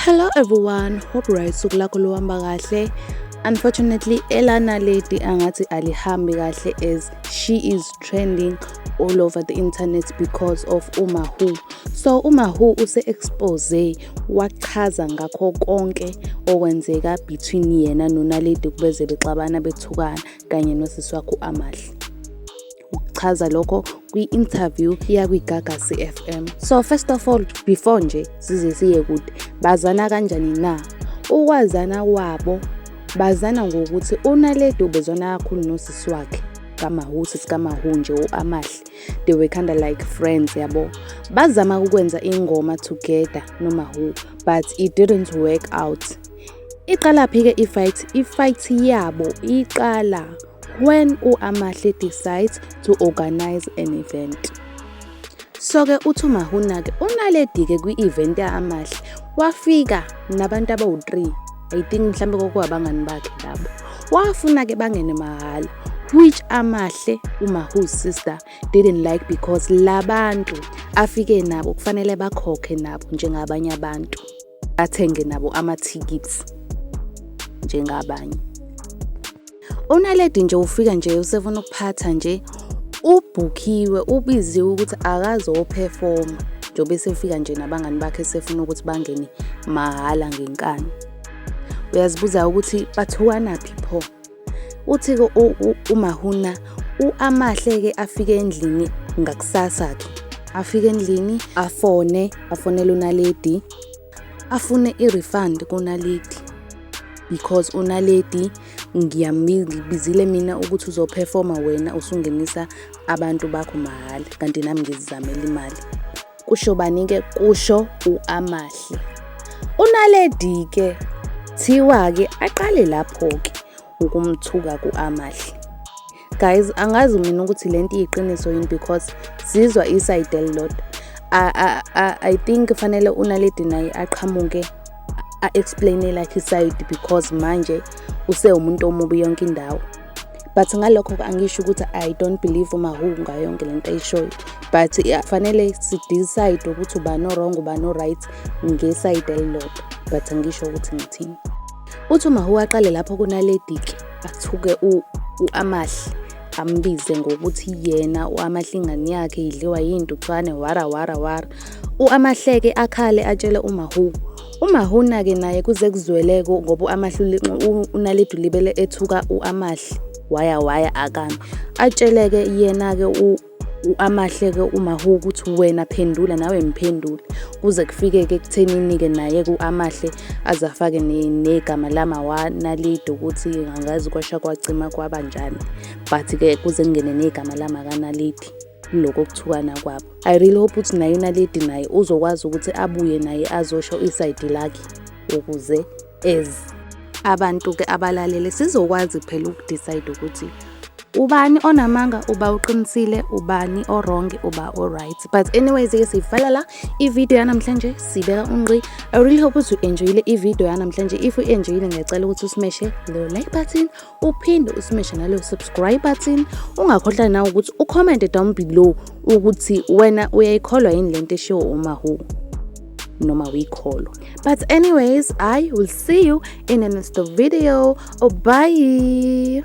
Hello everyone, hope right suku lakho luhamba kahle. Unfortunately elana lady angathi alihambi kahle as she is trending all over the internet because of umahu so umahu use-expose wachaza ngakho konke okwenzeka between yena nonaledi kubeze bexabana bethukana kanye nosisi wakho amahle ukuchaza lokho kwi-interview yakwigaga cfm so first of all before nje size siye kude bazana kanjani na ukwazana kwabo bazana ngokuthi unaledi ubezona kakhulu nosisi wakhe sikamahu sisikaMahu nje u-Amahle they were kinda like friends yabo bazama ukwenza ingoma together noMahu but it didn't work out Iqalaphi-ke i-fight? I-fight yabo iqala when u-Amahle decides to organize an event. So-ke uthi umahuna-ke unaledi-ke kwi-event ya-Amahle wafika nabantu abawu-three I think mhlawumbe kokuwabangani bakhe labo wafuna-ke bangene mahhala which amahle umahu's sister didn't like because labantu afike nabo kufanele bakhokhe nabo njengabanye abantu bathenge nabo amathikithi njengabanye unaledi nje ufika nje usefuna ukuphatha nje ubhukhiwe ubiziwe ukuthi akazophefoma njengoba esefika nje nabangani bakhe sefuna ukuthi bangene mahhala ngenkani uyazibuza ukuthi bathukanaphi pho Uthi-ke uMahuna u-amahle-ke afike endlini ngakusasa-ke. Afike endlini afone, afonele uNaledi, afune i-refund kuNaledi because uNaledi ngiyambizile mina ukuthi uzophefoma wena usungenisa abantu bakho mahhala kanti nami ngizizamela imali. kusho bani-ke kusho u-amahle unaledi-ke thiwa-ke aqale lapho-ke ukumthuka ku-amahle guys angazi mina ukuthi le nto iyiqiniso yini because sizwa isayide elilodwa i think fanele unaledi naye aqhamuke a-explaine like isayidi because manje usewumuntu omubi yonke indawo but ngalokho angisho ukuthi i don't believe umahuku ngayo yonke le nto ayishoyo but fanele sidecide ukuthi ubani orong ubani oright ngesayidi elilodwa but angisho ukuthi ngithini uthi umahuku aqale lapho kunalediki athuke u-amahle ambize ngokuthi yena u-amahle ingane yakhe yidliwa yintuthwane wara wara wara u-amahleke akhale atshele umahuku Umahuna ke naye kuze kuzweleko ngoba uAmahlule unaledu libele ethuka uAmahle waya waya akami atsheleke yena ke uAmahle ke uMahu ukuthi wena phendula nawe mphendule kuze kufike ke kuthenini ke naye kuAmahle azafake negama lama wanalidi ukuthi angazi kwasha kwacima kwabanjani but ke kuze kungene negama lama kanalidi kuloko kuthukana kwabo i really hope ukuthi naye unaledi naye uzokwazi ukuthi abuye naye azosho isayidi lakhe ukuze as abantu-ke abalalele sizokwazi phela ukudecide ukuthi ubani onamanga uba uqinisile ubani orongi uba oright but anyways-ke siyivala la ividiyo yanamhlanje sibeka unqi i really hope ukuthi u-enjoyile ividiyo yanamhlanje if u-enjoyile ngiyacela ukuthi usimeshe lo like button uphinde usimeshe naleyo subscribe button ungakhohlwa nawe ukuthi ucommente down below ukuthi wena uyayikholwa yini lento eshiwo umahu noma uyikholwa but anyways i will see you in the next video oh bye